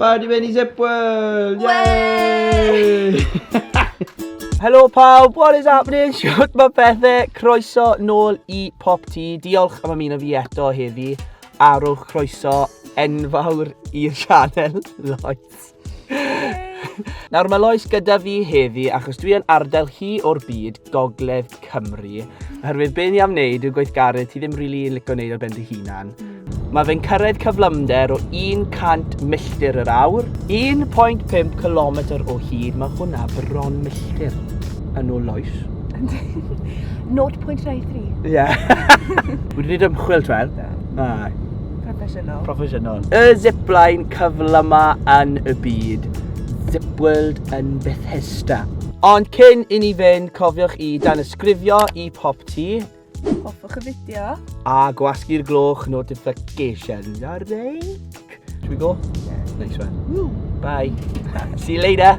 Ba, di mynd i Zipworld! Yay! Helo pawb, what is happening? Siwt mae pethau, croeso nôl i Pop T. Diolch am ymuno fi eto heddi. A rhowch croeso enfawr i'r sianel, Lois. Nawr mae Lois gyda fi heddi achos dwi yn arddel hi o'r byd Gogledd Cymru. Oherwydd be ni am wneud yw gweithgaredd ti ddim rili yn licio wneud ar ben dy hunan. Mae fe'n cyrraedd cyflymder o 100 milltir yr awr. 1.5 km o hyd, mae hwnna bron milltir yn ôl loes. 0.23. Ie. Wedi gwneud ymchwil, Twer? Na. Proffesiynol. Proffesiynol. Y zipline cyflyma yn y byd. Zipworld yn beth Pista. Ond cyn i ni fynd, cofiwch i danysgrifio i Pop Ti. Hoffwch y fideo. A gwasgu'r gloch notification. Ar reic. Should we go? Yeah. Nice one. Woo. Bye. See you later.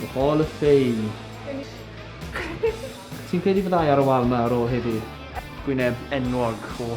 The Hall of Fame. Ti'n credu fyddai ar y wal 'ma ar ôl heddi? Gwyneb enwog o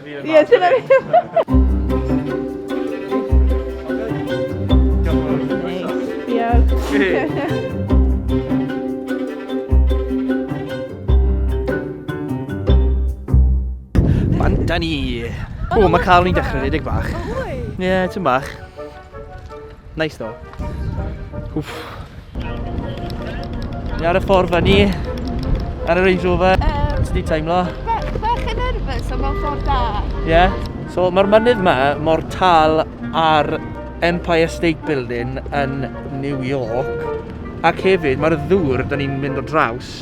Ie, dyna Fan da ni! O, mae cael ni'n dechrau rhedeg bach. Ie, ti'n bach. Nice though. Wff. Ni ar y ffordd fan ni. Ar y Range Rover. Um, Sdi teimlo? Bach yn nerfus am mewn ffordd da. Ie. Yeah. So mae'r mynydd yma mor tal ar Empire State Building yn New York. Ac hefyd mae'r ddŵr da ni'n mynd o draws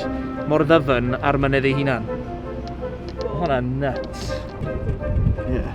mor ddyfn ar mynydd ei hunan. Hwna'n nuts. Yeah.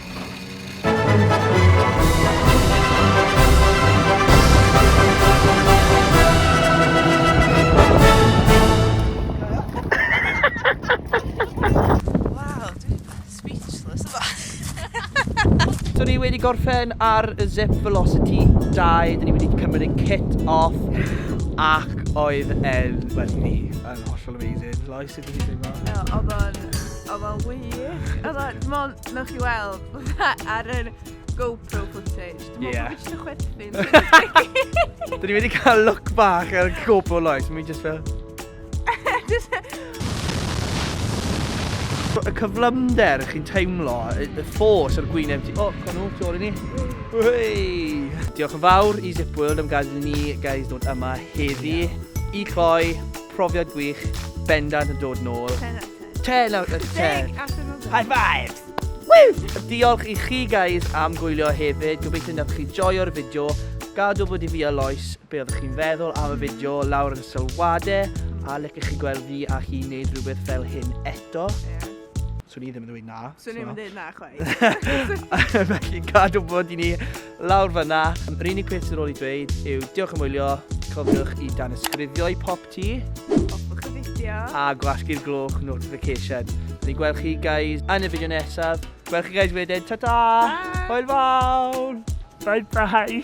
So ni wedi gorffen ar y Zip Velocity 2, dyn ni wedi cymryd ein kit off ac oedd e'n, wel i fi, yn hollol amazing. Lois, sut o't ti'n teimlo? Oedd o'n... O, mae'n wych. Oedd o, dim ond, newch chi weld, fatha ar yr GoPro footage. Dim ond Ie. bod fi jyst yn chwerthin. Dyn ni wedi cael look bach ar y GoPro Lois, mi jyst fel... Jyst- Y cyflymder chi'n teimlo, y y ffos ar gwyneb ti... O, con nhw, tu ôl i ni. Hei! Diolch yn fawr i Zip World am gael ni guys dod yma heddi i cloi profiad gwych bendant yn dod nôl. Ten out of ten. 10 out of 10. High fives! Woo! Diolch i chi guys am gwylio hefyd. Gobeithio nad chi joio'r fideo. Gad wybod i fi a Lois be oeddech chi'n feddwl am y fideo lawr yn y sylwadau a lecech chi gweld fi a hi wneud rhywbeth fel hyn eto. Yeah. Swn i ddim yn dweud na. Swn i ddim yn dweud na chwaith. Felly gad wybod i ni lawr fyna. Yr unig peth sy'n ôl i dweud yw diolch am wylio. Cofiwch i dan ysgrifio i pop Ti? Hoffwch y fideo. A gwasgu'r gloch notification. Ni'n gweld chi guys yn y fideo nesaf. Gweld chi guys wedyn. Ta ta! Hwyl fawr! Bye bye!